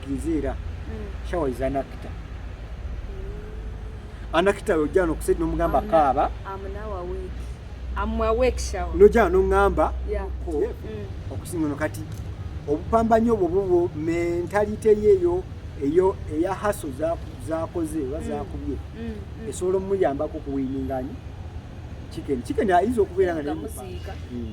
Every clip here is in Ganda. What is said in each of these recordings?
Nziira. Mm. Shower is anakita. Anakita yojja no kusedi no mugamba kaaba. I'm now awake. I'm awake shower. Noja no ngamba. Yeah. Ko. Yeah. Mm. Okusinga no kati. Obupambanyo obwo bwo mentality yeyo eyo eya haso za zakoze oba mm. zakubye. Mm. Mm. Esolo muyamba ko kuwininga nyi. Chicken. Chicken ayinza okubeera nga ne.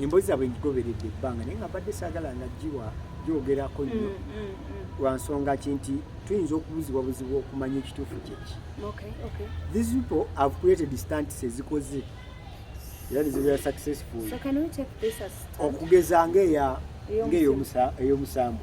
emboozi zaabwe ngigoberedde ebbanga naye nga mbadde saagala nga giwa gyogerako nnyo mm, mm, mm. lwa nsonga ki nti tuyinza okubuzibwa buzibu okumanya ekituufu kyeki these people have created stunts ezikoze era nizibera successful okugeza ngaeya ngaeyomusambu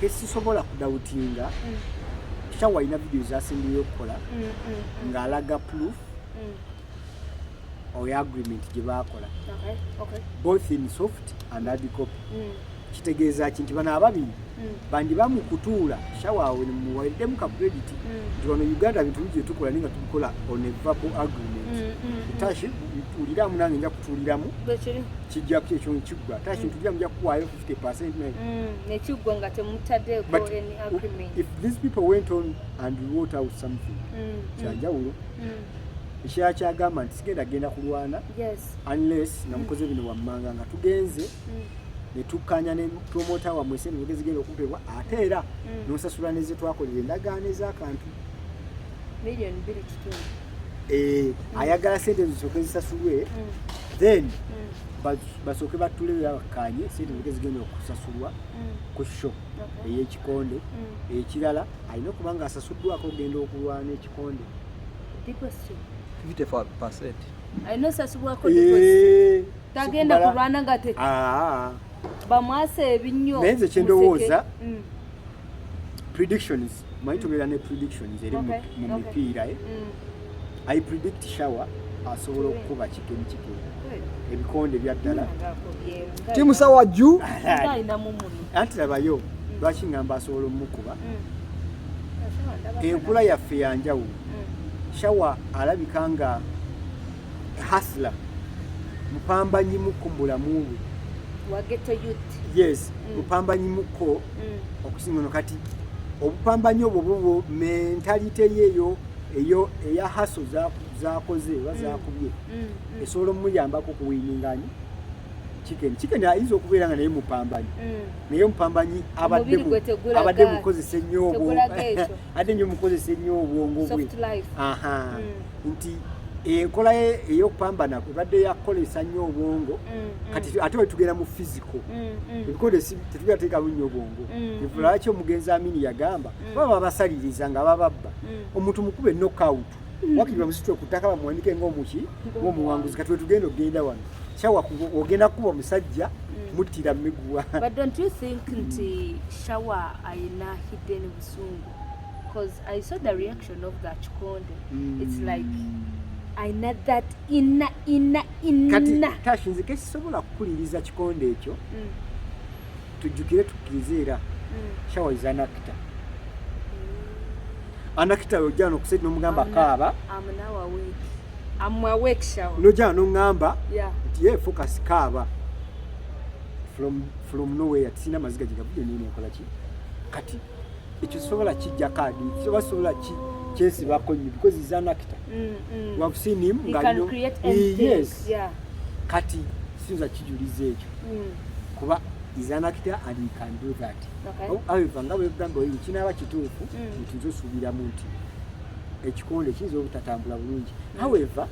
kesisobola kudawutinga mm. kisha walina video zasembeyo okukola mm, mm, ng'alaga proof oyo agreement gye baakola both in soft and hard copy kitegeeza ki nti bano ababiri bandi bamukutuula shawaawe muwaliddemu ka credit nti wano uganda bintu bigi byetukola naye nga tubikola on a verbal agreement tashi tuliramu nange nja kutuuliramu kijja ekyo kiggwa tashi ntuliramu nja kukuwaayo 50% maybe. Mm, nekigo nga temutadde go any agreement. If these people went on and wrote out something. Mm, mm. kyanjawulo. Mm. Mm. Ekyaya kyagamba nti sigenda genda kulwana. Yes. Unless mm. namukoze bino wammanga nga tugenze. Mm. netukkanya ne promota wamwe sente zigenda okumpebwa ate era mm. nosasula neze twakolera endagaano ez'akantu million biri kitundu eh, mm. ayagala sente ezo zisoke zisasulwe mm. then mm. basooke battule bakkaanye sente zige zigenda okusasulwa mm. ku sho ey'ekikonde mm. ekirala alina okuba nga asasuddwako ogenda okulwana ekikonde alina osasubwako eh, tagenda kulwana nga te ah. bamwasa ebinnyo naye nze kyendowooza mm. predictions manyi mm. tubeera ne predictions eri mu mipiira eh? mm. i predict shower asobola okukuba kigemu kigemu ebikonde byaddala timu sawa juu anti labayo mm. lwaki ngamba asobola omukuba enkula yaffe yanjawulo shawa alabika nga hasla mupambanyi muko mubulamu bwe yes mm. mupambanyi muko mm. okusinga no kati obupambanyi obwo bubwo mentalite yeyo eyo eya haso zakoze oba mm. zakubye esobola omuyambako okuwininganyi chicken chicken ayinza okubeera nga naye mupambanyi naye omupambanyi abadde mukozesa ennyo obwo adde nyo mukozesa ennyo obwongo bwe nti enkola ye eyokupambana ebadde yakukozesa nnyo obwongo mm, mm. kati ate wetugenda mu fiziko mm, ebikozesi tetugera teekamu nnyo obwongo lwaki omugenzi amini yagamba baba babasaliriza nga bababba omuntu mukube nokout wakiri bamusitula ku ttaka bamuwanike ngaomuki ngaomuwanguzi kati wetugenda okugenda wano shawa ogenda kuba omusajja muttira miguwa because I saw the reaction of that Chikonde. Mm. It's like I know that inna inna inna. Kati tashi nzike sisobola kukuliriza Chikonde ekyo. Mm. Tujukire tukirize era. Mm. Shawa is an actor. Mm. An actor yojja nokuseti nomugamba kaaba. I'm now awake. I'm awake shawa. Nojja nongamba. Yeah. Nti ye focus kaaba. From from nowhere tisina maziga jigabuye nini ekola ki? Kati ekyo sobola kijja kaadi oba sobola ki kyesibako nyo because is an actor mm, mm. we have seen him nga no yes yeah. kati sinza kijuliza ekyo mm. kuba is an actor and he can do that okay. however nga bwegamba oyo kinaba kituufu mm. nti nze osuubiramu nti ekikonde kiyinza obutatambula bulungi mm. however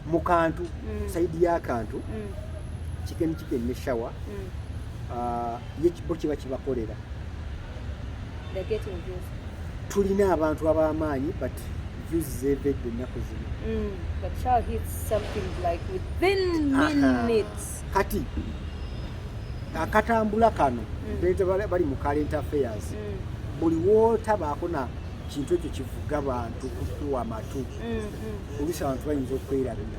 mu kantu mm. saidi y'akantu mm. kikeni kikeni ne shawa mm. ah, ye bo kiba kibakolera tulina abantu ab'amaanyi but views zeevedde ennaku zino mm, kati akatambula kano mm. bali mu current affairs mm. buli wootabaako na kintu ekyo kivuga bantu kukuwa amatu mm, oluusi abantu bayinza okwerabira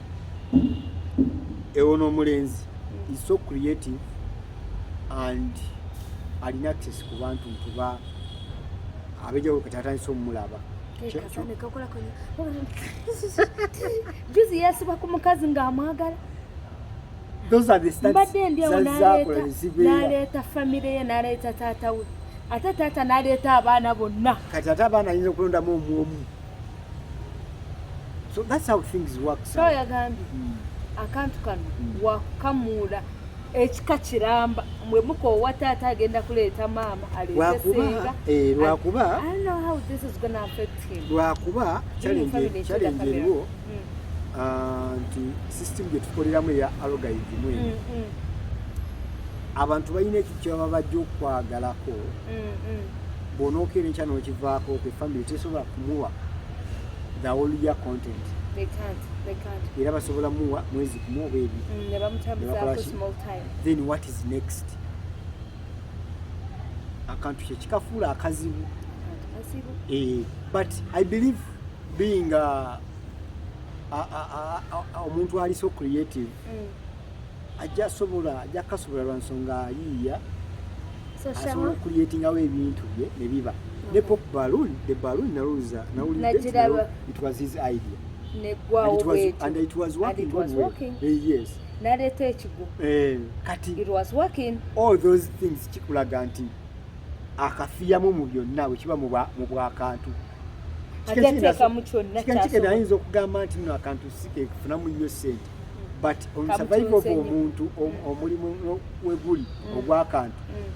ewo n'omulenzi is so creative and alina access ku bantu ntuba abejawulo kati atandise omumulaba juzi yasiba ku mukazi ng'amwagala mbadde endiawo naleeta famire ye naleeta taata we ate taata naleeta abaana bonna kati ate abaana ayinza okulondamu omu omu So that's how things work. So yagambye hmm. akantu kano hmm. wakamuula ekika kiramba mwe mukoowa taata agenda kuleeta maama aleetesinga eh, lwakuba lwakuba challenge eriwo hmm. ah, nti system gye tukoleramu eya alogaidimu eno abantu balina ekyo kyebaba bajja okwagalako bw'onookeera enkya n'okivaako kwe family tesobola kumuwa the whole year content era basobola muwa mwezi kumu oba ebirthen mm, what is next akantu kyekikafuula akazibu eh, but i believe being omuntu ali so creative mm. ajja sobola ajja kasobola lwa nsonga yiiya asobola okuliyetingawo ebintu bye ne biba ne pop balloon the balloon nalowooza nawulidde it was his idea and it was working god well eh, yes naleeta ekigo eh, kati it was working all those things kikulaga nti akafiyamu mu byonna bwe kiba mu bwakantu ajja teekamu kyonna kyasobola kigenda ayinza okugamba nti no akantu sikefunamu nnyo sente but on survival of omuntu omulimu weguli mm. ogwakantu mm.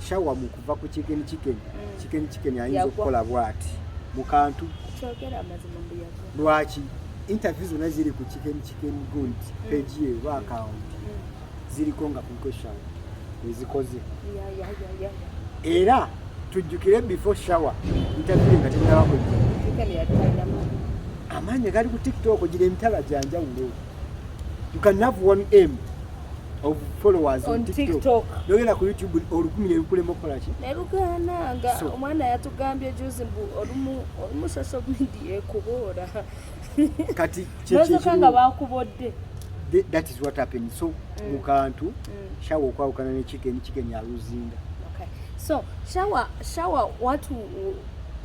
shawa mu kuva ku chicken chicken mm. chicken chicken ayinza okukola bwati mu kantu lwaki interview zona ziri ku chicken chicken gundi page ye ba account ziriko nga compression ezikoze era tujjukire before shower ntabire nga tennaba kujja amaanyi gali ku tiktok gira emitala gyanjawulo you can have one m of followers on, on tiktok, TikTok. nogenda ku youtube olukumi nebikulema okukolaki nelugananga omwana yatugambye juzi mbu olumu olumu social media ekuboora kati kyekyekyo nga bakubodde that is what happened so mm. mukantu mm. shawa okwawukana ne chicken chicken ya luzinga okay so shawa shawa watu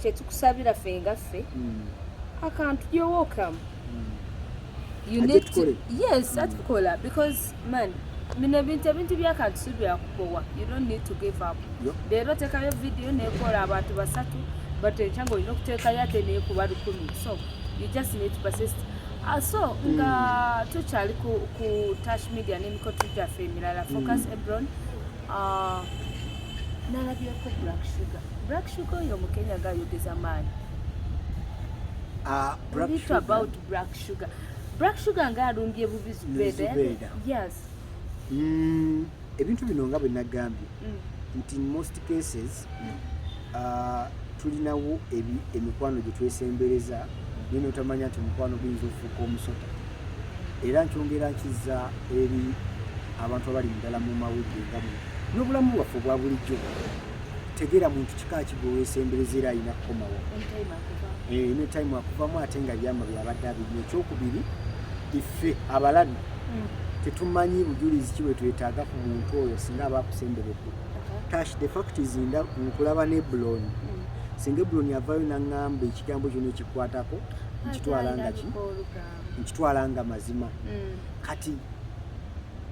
kyetukusabira fe nga ffe mm. akantu you're welcome mm. you need to yes mm. atukola because Man, bino ebintu ebintu byakantu si byakubowa you don't need to give up leero otekayo vidiyo nekola abantu basatu but ekya nga olina okutekayo ate nekuba lukumi so you just need to persist ah, so nga hmm. tukyali ku tash media nemikotu gyaffe emirala hmm. focus ebron ah, nalabyeko black sugar black sugar oyo mukenya gayogeza maanyi ah, about black sugar Black Sugar nga alumbye bubi Zubeda. Yes. Mm, ebintu bino nga bwe nagambye mm. nti in most cases mm. uh, tulinawo emikwano gye twesembereza naye mm. notamanya nti omukwano guyinza okufuuka omusota era nkyongera nkiza eri abantu abali mudala mu mawulire nga muno n'obulamu bwaffe obwa bulijjo tegera muntu kika ki gwewesembereza era alina kukomawo ne time akuvamu eh, ate nga byama byabadde abiri ekyokubiri ife abalabi hmm. tetumanyi bujulizi ki bwetwetaaga ku muntu oyo singa aba akusemberedde tash the fact is nda nkulaba ne bloni hmm. singa ebloni avayo naŋŋamba ekigambo kyona ekikwatako nkitwala nga ki nkitwala nga mazima hmm. kati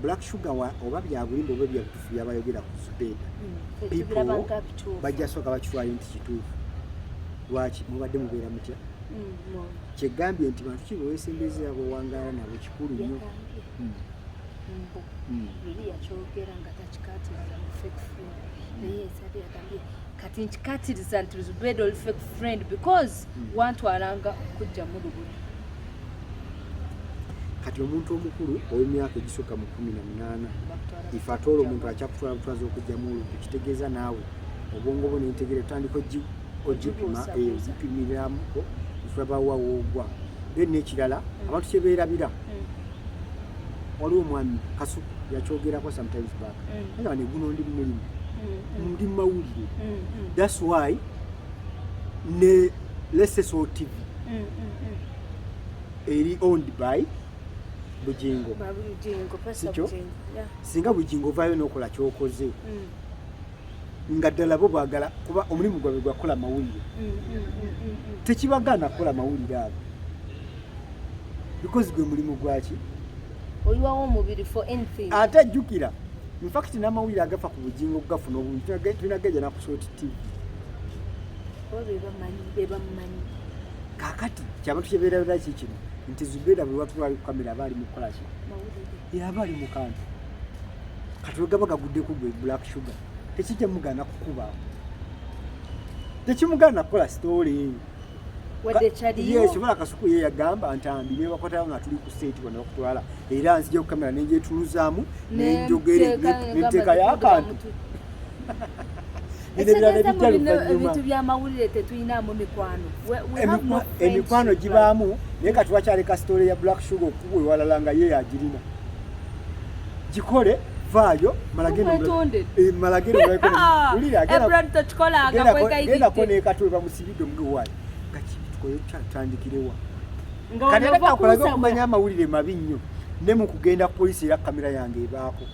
black sugar oba byabulimba oba bya byabayogera ku Zubeda mm, bajja sooka bakitwale nti kituufu lwaki mubadde mubeera mutya mm, kyegambye nti bantu ki bewesembezera bwewangaala nabo kikulu nnyo mm. yali yakyogera nga takikatiriza mu fake friend naye esabi yagambye kati nkikatiriza nti Zubeda oli fake friend because wantwalanga kujja mu lubuto kati omuntu omukulu owemyaka egisukka mu kumi na munaana ife atoola omuntu akyakutwala butwaza okugyamu olumpi kitegeeza naawe obwongo bwo nentegere otandika ogipima eh, ogipimiramuko tulabawa woogwa then nekirala hmm. abantu kyebeerabira hmm. waliwo omwami kasuku yakyogerako sometimes back hmm. nga neguno ndi mumulimu ndi mumawulire thats why ne lesesotv eri owned by bujingo sikyo singa bujingo ovaayo nokola kyokoze mm. nga ddala bo bwagala kuba omulimu gwabwe gwakukola mawulire mm, mm, tekibagaana kukola mawulire ago because gwe mulimu gwaki oyiwawo omubiri for anything ate ajjukira infact namawulire agafa ku bujingo okugafuna obungi tulina gajja nakusooti tv kakati kyaba tukibeerabira ki kino nti zubeera buli watu ali ku kamera aba ali mu kukola ki yaba ali mu kantu kati wegaba gagudde ku gwe black sugar tekijja mugaana kukuba tekimugaana kukola sitoole yesobola kasuku ye yagamba ntambi nebakwatayo nga tuli ku state bona okutwala era nzija kukamera nenjetuluzaamu nenjogere nenteekayo akantu ebintu byamawulire tetulinamu mikwano emikwano gibaamu naye kati wakyaleka sitole ya black sugar okukubwa ewalala nga ye yagirina gikole vaayo malageragendako eh, nekatwe bamusibidde omugewayo gakibitukoyo kyatandikirewa kati ate kakulaga okumanya amawulire mabi nnyo ne mu kugenda ku polisi era kamera yange ebaako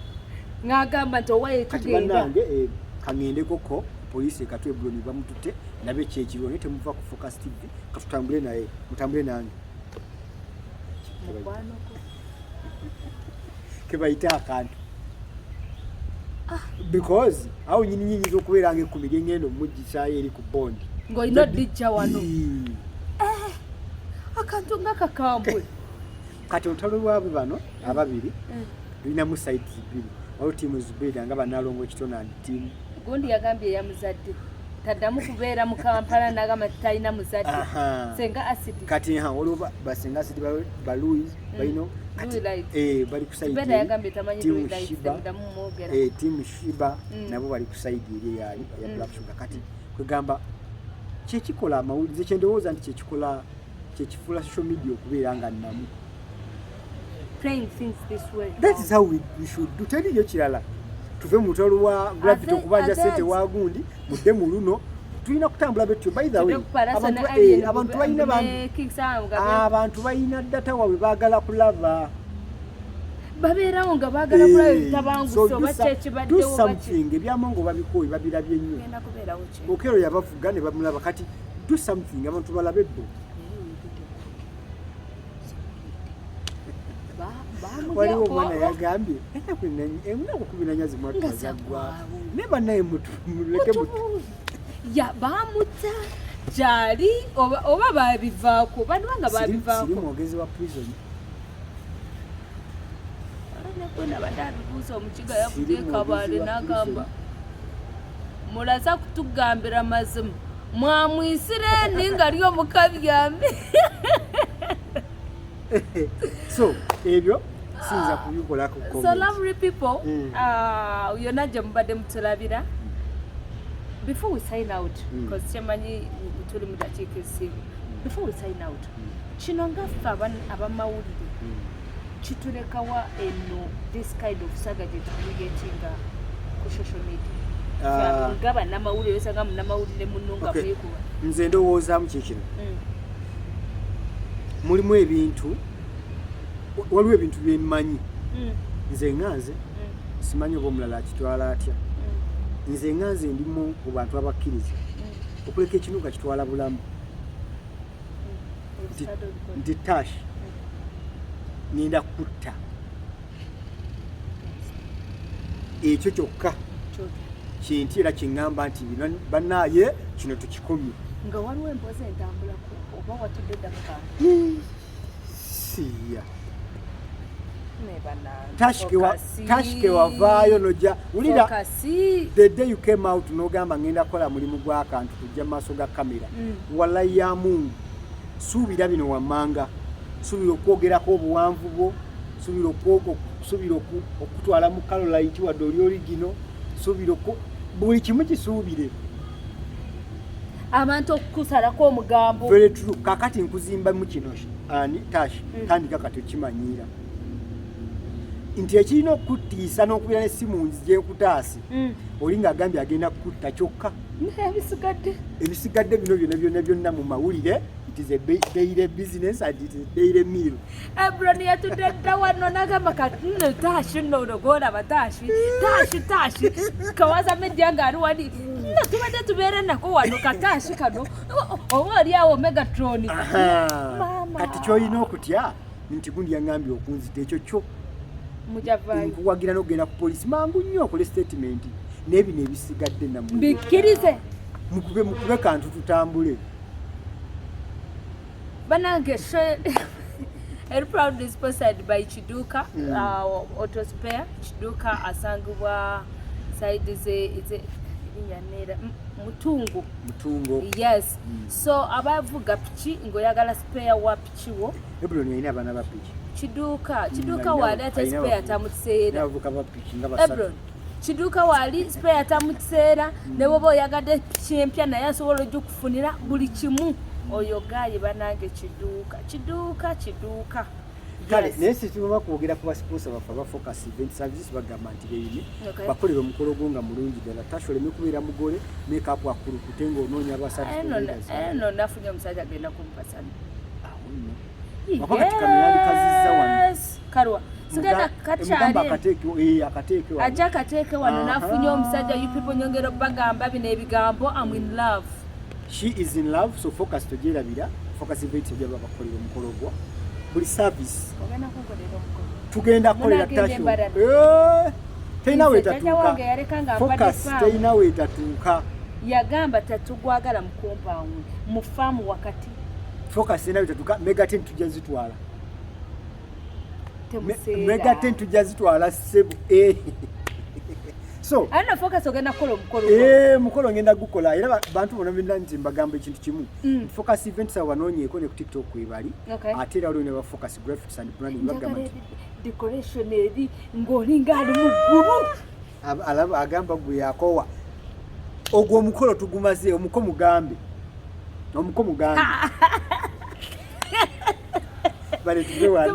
ng'agamba nti owaye tugenda eh, kaŋendeko ko poliisi ekatwe buloni bamututte nabe kyekiriwo naye temuva ku focus tv katutambule naye mutambule nange kebayita akantu ah. because awo nyini nyinyiza okubeera nga ekumi lyengenda omujjisayo eri ku bondi ngaolina odijja wano eh, akantu nga kakambwe kati olutalo lwabwe bano ababiri mm. lulinamu sides bbiri waliwo tiimu zibiri nga banalongo kitonani tiimu gundi yagambye eyamuzadde taddamu kubeera mu kampala nagamba titalina muzadde senga acid kati ha waliwo basenga acid baluis mm. balino eh, bali kusaidimu eh, shiba mm. nabo bali kusaidi eri eyali ya black sugar kati kwegamba kyekikola amawulire kyendowooza nti kyekikola kyekifula social media okubeera nga namu playing things this way that is how we, we should do teliyo kirala tuve mu mutwalo gwa gravity okubanja sente wa gundi mudde mu luno tulina kutambula betyo by the way abantu eh, abantu balina ah, abantu balina data wabwe bagala kulaba babeerawo nga bagala eh, kulaba ebitabangusa oba kyekibaddewo something ebyamongo babikooyi babirabye nnyo okero yabavuga ne bamulaba kati do something abantu balabe bo waliwo omwana yagambye enakukubiranyazimatazagwa ne banaye mutuleke ya bamuta gyali oba babivaako banubanga babivaako mwogezi wa prison nabadde abibuuza omukiga yavuga ekabale n'agamba mulaza kutugambira mazima mwamwisira endi nga lyo mukabyami so ebyo siyinza kubikolako so lovely people mm. uh, yona gye mubadde mutulabira before we sign out because mm. kyemanyi tuli mu dakiika esiibu before we sign out mm. kino ngaffe abamawulire kitulekawa eno this kind of saga gyetukuyetinga ku social media ah. nga banamawulire osanga munamawulire muno nga mwekuba nze ndowoozamu kyekino mm. mulimu ebintu waliwo ebintu byemmanyi mm. nze nga nze mm. simanyi oba omulala akitwala atya nze nga nze ndimu mu bantu abakkiriza okuleka ekinuga kitwala bulamu nti tash ngenda kutta ekyo kyokka kinti era kiŋŋamba nti banaye kino tukikomye nga waliwo emboozi entambulako oba watudde ddaka siya tashike wavaayo noja wulira the day you came out nogamba ngenda kola mulimu gwakantu ku ja maso ga kamera mm. wala ya mungu subira bino wamanga subira okwogera ko obuwanvu bwo subira okwoko subira okutwala mu kalo laiti wa doli origino subira ko buli kimu kisubire abantu okusala ko omugambo very true kakati nkuzimba mu kino ani tashi mm. kandi kakati kimanyira nti ekirina okukutiisa n'okubeera n'essimu nzije nkutaase mm. oli ng'agambye agenda kukutta kyokka ebisigadde ebisigadde bino byona byona byonna mu mawulire it is a daily business and it is a daily meal ebron yatudde dda wano nagamba kati nno taashi nno ologoola bataashi taashi taashi kawaza media nga ali wali nno tubadde tubeera nako wano kataashi kano oba oli awo megatroni kati kyolina okutya nti gundi yaŋambye okunzita ekyo kyo nkuwagira nokugenda ku polisi mangu nnyo okole statement naye bino ebisigadde namubikkirize mukube mukube kantu tutambule banange eri proud is sponsored by kiduka mm. uh, autospare kiduka asangibwa side ze yanera mutungu mutungu yes mm. so abavuga piki ngoyagala spare wapi kiwo ebuloni yalina abaana ba piki kiduuka mm, kiduuka waali ate sipeya tamukiseera abavuka ba piki nga basatu kiduuka waali sipeya tamukiseera mm. ne woba oyagadde piki empya naye asobola ojukufunira buli kimu oyo gaayi banange kiduuka kiduuka kiduuka kale naye situma kwogera ku basiponsa baffe abafocus event services bagamba nti beyine bakolera omukolo gwo nga mulungi ddala tasha oleme kubeera mugole mekapu akulukute nga onoonya abasajja kalwa sigenda kakyaliaja akateeke wano nafunye omusajja you people nyongera okubagamba bino ebigambo am in love she is in love so focus tojerabira focus event ejo babakolera omukolo gwo buli service tugenda kukolera tasho teyina wetatuuka focus teyina wetatuuka yagamba tatugwagala mukompawundi mu faamu wakati focus ena bitatuka mega ten tujja zitwala mega ten tujja zitwala sebu eh. so ana focus ogenda kukola omukolo eh mukolo ngenda gukola era bantu bona binda nti mbagamba ekintu kimu mm. focus events abanonye ko ne ku tiktok kwebali okay. ate era olwene ba focus graphics and branding bagamba decoration eri ngolinga ali mu guru alaba agamba gwe yakowa ogwo omukolo tugumaze omuko mugambe omuko mugambe bale tuve wano